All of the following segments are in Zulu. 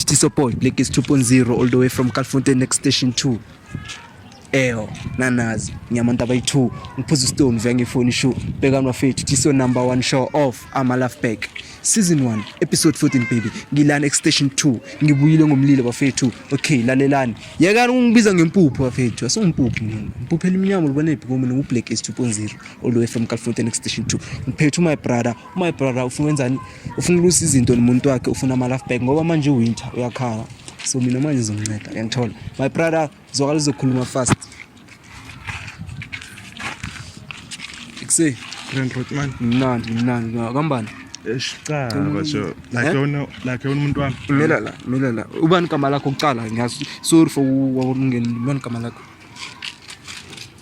Tiso boy Lekis 2.0 all the way from Calfonte next station 2 Eyo nanazi ngiyamantu abayi 2 ngiphuza stone vya ngefoni show bhekani wafethu Tiso number 1 show off ama love back season 1 episode 14 baby ngilana next station 2 ngibuyile ngomlilo bafethu okay lalelani yekani ungibiza ngempuphu bafethu asungimpuphu mina impuphu elimnyama libonephi kumina ngu Black 2.0 all the way from Calfonte next station 2 ngiphethu my brother my brother ufuna wenzani ufuna ulusa izinto nomuntu wakhe ufuna ama laugh back ngoba manje uwinter uyakhala so mina manje ngizomnceda uyangithola my brother zwakala uzokhuluma fast ikuse grand road man mnandi mnandi kambani Eshicala basho like yona eh? like yona umuntu wami mela la mela la ubani igama lakho kuqala ngiyazi sorry for ukungena ubani igama lakho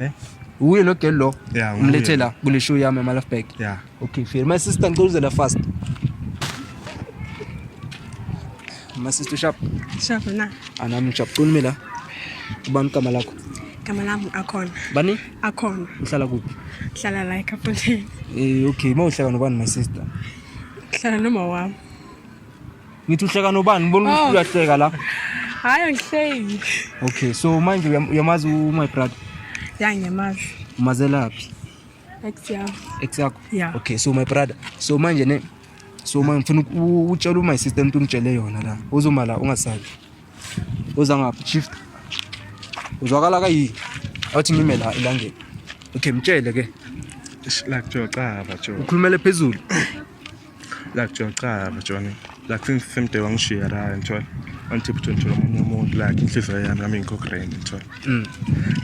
Eh? Uye lo girl lo. Yeah, uye. Umlethe la kule show yami ama life bag. Yeah. Okay, fair. My sister ngicela uzela fast. My sister sharp. Sharp na. Anami sharp. Qulumi la. Ubani igama lakho? Igama lami Akhona. Bani? Akhona. Uhlala kuphi? Ngihlala la eKapoteni. Eh, okay. Mawuhlala nobani my sister? Ngihlala nomawami. Ngithi uhleka nobani? Ngibona ukuthi oh. uyahleka la. Hayi angihleki. Okay, so manje uyamazi u my brother? Ya ngiyamazi. Umazela phi? Ex yakho. Ex yakho? Yeah. Okay, so my brother. So manje ne so manje ngifuna utshela my sister into ngitshele yona la. Uzoma la ungasabi. Uza ngaphi shift? Uzwakala kayi. Awuthi ngime la elangeni. Okay, mtshele ke. Like jo cha ba jo. Ukhulumele phezulu. like John cha John like since same day wangishiya la ngithola until ukuthi ngithola omunye umuntu like inhliziyo yami nami ngikho grand ngithola mm.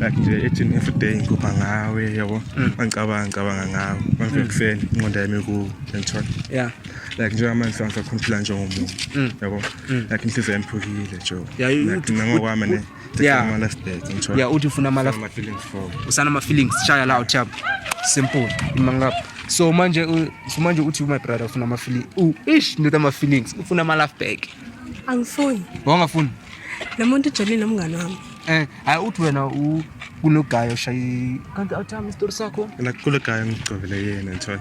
like nje ethi every day ngikhupha ngawe yabo mm. angicabanga ngicabanga ngawe manje mm. kuseni inqondo yami ku ngithola yeah like njengoba manje sangisakhompila njengomuntu yabo like inhliziyo yami phukile jo like nangokwami ne Yeah. Mana state ngithola. Yeah, uthi ufuna amala ama feelings for. Usana ama feelings shaya la uthap. Simple. Imangap. So manje u- so manje uthi my brother ufuna ama feelings. U ish ndoda ama feelings. Ufuna ama love back. angifuni Wangafuni? lo muntu ujolile umngane wami Eh, hayi uthi wena u kunogayo shayi. Kanti awuthami isitori sakho? Nakule guy ngigcobele yena ngithola.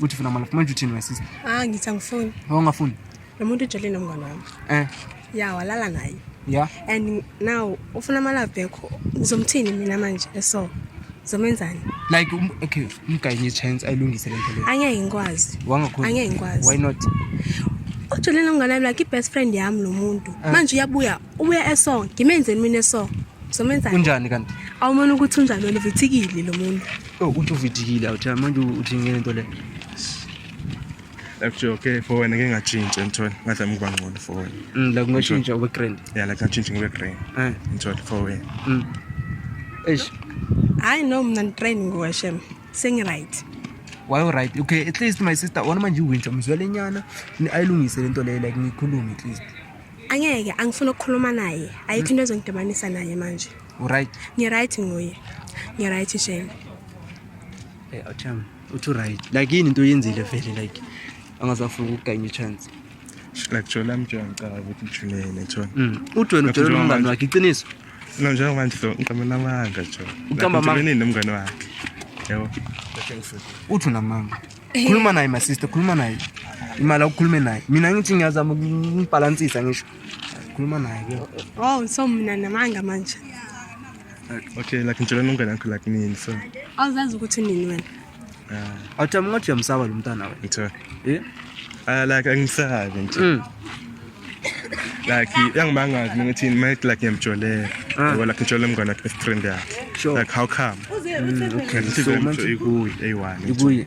Uthi funa manje manje uthini my sister? Ah ngithi angifuni. Awungafuni? Lo muntu ujele nomngane wami. Eh. Ya walala naye. Yeah. And now ufuna ama love back. Ngizomthini mina manje eso. Zomenzani? Like um, okay, umgayi ngi chance ayilungise lento leyo. Angeke ngikwazi. Wangakhona. Angeke ngikwazi. Why not? Ujele nomngane wami like best friend yami lo muntu. Eh. Manje uyabuya, ubuya eso. Ngimenzeni mina eso. Zomenzani? Kunjani kanti? Awumona ukuthi unjani wena uvithikile lo muntu. Oh, uthi uvidikile awuthi manje uthi ngeke into le. Actually okay for wena ngeke ngachintshe ngithola ngathi amkuba ngcono for wena. Mm la kungashintsha ube grand. Yeah la ngachintsha ngibe grand. Eh ngithola for wena. Mm. Eish. Hayi no mina ngitrain ngowashem. Sengi right. Why right? Okay at least my sister wona manje uwinja mzwele nyana ayilungise lento le like ngikhulume at least. Angeke angifuna ukukhuluma naye. Ayikho into ezongidibanisa naye manje. Uright. Ni right ngoye. Ni right shame. Eh acham. Uthi right. Like yini into oyenzile vele like angazafuna ukuganya chance. Like jola mjwa ngicabanga ukuthi ujulele jwa. Mm. Uthi wena ujola umngane wakhe iqiniso. No njengoba nje ngicabanga namanga jwa. Ucamba amanga. Ngicabanga nomngane wakhe. Yebo. Uthi unamanga. Khuluma naye my sister, khuluma naye. Imali awukhulume naye. Mina ngithi ngiyazama ukubhalansisa ngisho. Khuluma naye ke. Oh, so mina namanga manje. Okay, like ngicela nongena ngikho like nini so. Awuzazi ukuthi nini wena? Ah. Awuthi amngathi uyamsaba lo mntana wena. Ngithe. Eh? Ah like angisabi nje. Mm. like uyangimangazi mina ukuthi mina like ngiyamjolela ah. yabo like ngijole mngane wakhe best friend yakhe like how come mm, okay so manje ikuyi eyi one ikuyi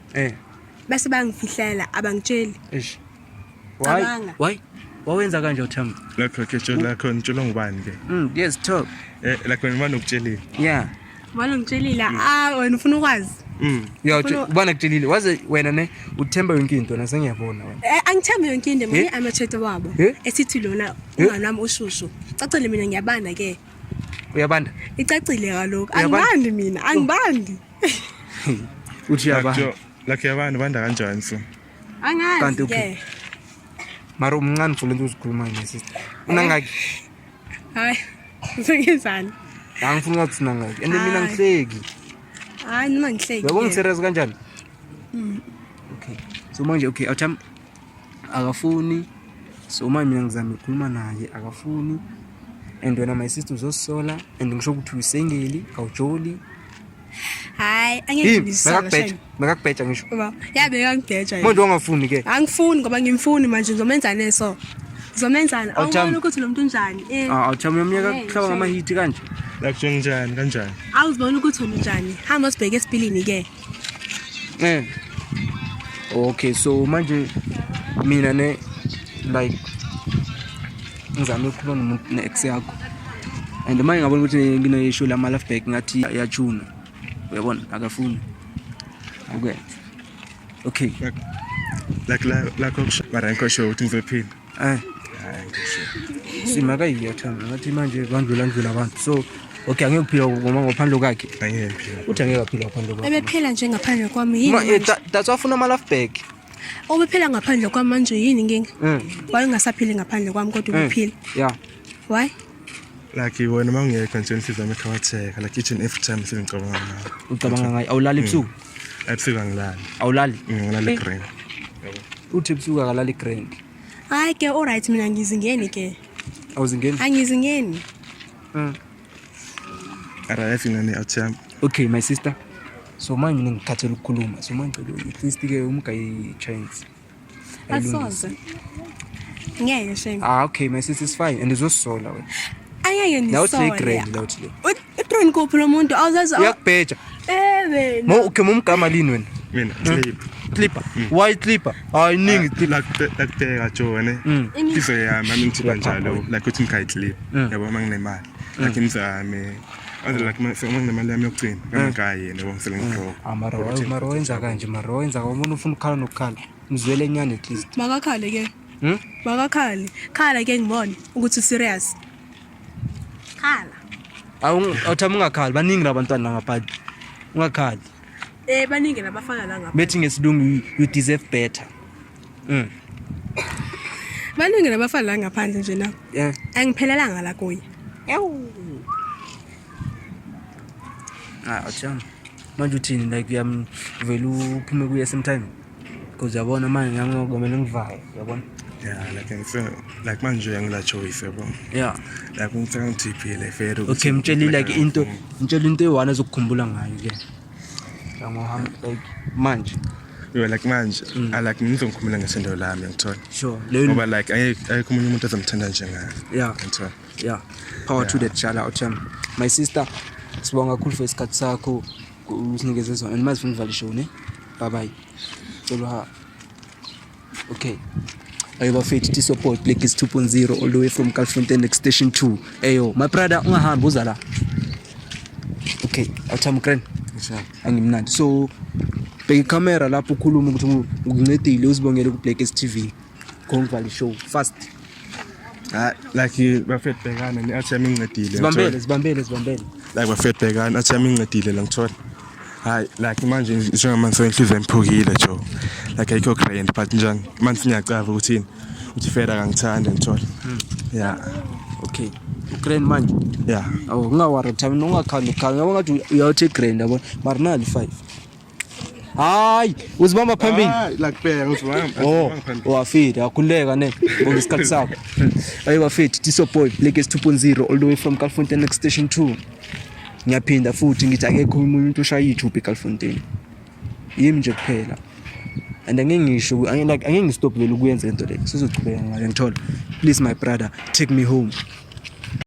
Eh. Base bangifihlela abangitsheli. Eish. Why? Cabanga. Why? Wawenza kanje uThemba. Lakho ke tshela lakho ngitshelwa ngubani ke? Mm, yes, talk. Eh lakho ngimane ukutshelile. Yeah. Walo ngitshelile, ah wena ufuna ukwazi. Mm. Yeah, Ufuna- ubana kutshelile. Waze wena ne uThemba yonke into na sengiyabona wena. Eh angithembi yonke into mina Eh? amathete wabo Eh? esithi lona Eh? umama wami ushushu. Cacile mina ngiyabanda ke. Uyabanda? Icacile kaloko. Uyabanda? Angibandi mina, angibandi. uthi yaba lakhe abantu banda kanjani so angazi kanti okay mara umncane for lento uzikhuluma ne sister unangaki hayi usengezani angifuni ngathi unangaki and mina ngihleki hayi noma ngihleki yabo ngiserious kanjani mm. okay so manje okay awuthi akafuni so uma mina ngizama ukukhuluma naye akafuni and wena my sister uzosola and ngisho ukuthi usengeli awujoli hayi angekubheja makakubheja ngisho yabe kangibheja manje ongafuni ke angifuni ngoba ngimfuni manje ngizomenzane so ngizomenzane awubona ukuthi lo mntu unjani eh. ah, awuthami yomnyaka eh, kuhlaba ngamahithi kanje lakutshenginjani kanjani awuzibona ukuthi unjani hamba sibheke esipilini ke eh okay so manje mina ne like ngizame ukukhuluma nomuntu ne-ex yakho and manje ngabona ukuthi nginoyisho lama life back ngathi yachuna uyabona akafuni okay okay like like like okusho baranko show ukuthi ngizophinda Eh. Simaka iyathanda ngathi manje bandlula ndlula abantu. So okay angeke uphila ngoma ngaphandle kwakhe. Angeke uphila. Uthi angeke aphila ngaphandle kwakhe. Ebephila nje ngaphandle kwami yini? Ma eh, that's why ufuna ama life back. Obephila ngaphandle kwami manje yini inkinga? Mm. Wayengasaphili ngaphandle kwami kodwa mm. ubephila. Yeah. Why? like wena uma ungekho nje inhliziyo yami ikhawatheka like each and every time sengicabanga ngayo ucabanga ngayo awulali ebusuku mm. ebusika ngilali awulali mm, ngilali eh. grand uthi ebusika kalali grand hayi ke all right mina ngizingeni ke awuzingeni angizingeni mm arrive in an atm okay my sister so manje ngikhathela ukukhuluma so manje ngicela at least ke umgayi chance asoze ngeke shame ah okay my sister is fine and uzosola wena ayeke nisola now it's grand now it's uthini kuphi lo muntu awuzazi uyakubheja eh wena mo okay mumgama lini wena mina hmm. clip clipper hmm. why clipper hayi ningi ah, lakubheka jone hmm. iso yami ami ngithiba njalo like uthi ngikhayi clip yabo uma nginemali like imzame aze like sekumane nemali yami yokugcina kangayi yena wangisele ngiqoka amaro maro wenza kanje maro wenza umuntu ufuna ukukhala nokukhala mzwele nyane at least makakhale ke hmm? makakhale khala ke ngibone ukuthi userious khala awuthama ungakhali baningi labantwana langaphandle ungakhali um baningi labafana langaphandle bethi ngesilungu you deserve better Mm. Baningi nabafana la ngaphandle nje na. Yeah. Angiphelelanga la kuye. Ewu. Ah, acha. Manje uthini like uyam vele uphume kuye same time. Because yabona manje ngami ngokumele ngivale, yabona? Yeah, like ngise like manje uyangila choice yabo. Yeah. Like ngicela ngithiphile fair ukuthi. Okay, mtsheli like into, mtsheli into eyi-one ezokukhumbula ngayo ke. like manje yo like manje mm. i like ngizomkhumula ngesendo lami ngithola sure ngoba like ayikho umunye umuntu ozomthanda njengayo yeah ngithola yeah power yeah. to that shout out um, my sister sibonga kakhulu for isikhathi sakho usinikeze zona and mazifuna uvalisho ne bye bye tshelo ha Okay. Ayo bafethu this your boy Black is 2.0 all the way from Kalifontein next station 2. Ayo my brother ungahambi uza la. Okay, awuthami grand. Sure. Angimnandi. So bheka icamera lapho ukhuluma ukuthi ngincedile uzibongele ku Black is TV. Go ngivale show fast. Ah, like bafethu bhekana ni athi yami incedile. Zibambele, zibambele, zibambele. Like bafethu bhekana athi yami incedile la ngithola. Hayi, like manje njengamanje senhliziyo emphukile jo. Like ayikho grand but njani manje singacava ukuthini. Uthi fera kangithanda ngithola. Hmm. Yeah. Okay. Grand manje. Yeah. Awu ngingawari mthamini ungakhanda ukhala. Yabo ngathi uyawuthi grand yabona. Marinal 5. hayi uzibamba phambili lakubheka uzibamba oh wafida wakhuleka ne ngoba isikhathi sakho ayi wafida tiso boy legacy 2.0 all the way from Calfontein next station 2 ngiyaphinda futhi ngithi akekho umuntu oshaya i-tube eCalfontein yimi nje kuphela and angeke ngisho like angeke ngistop vele ukuyenza into le sizochubeka ngayo ngithola please my brother take me home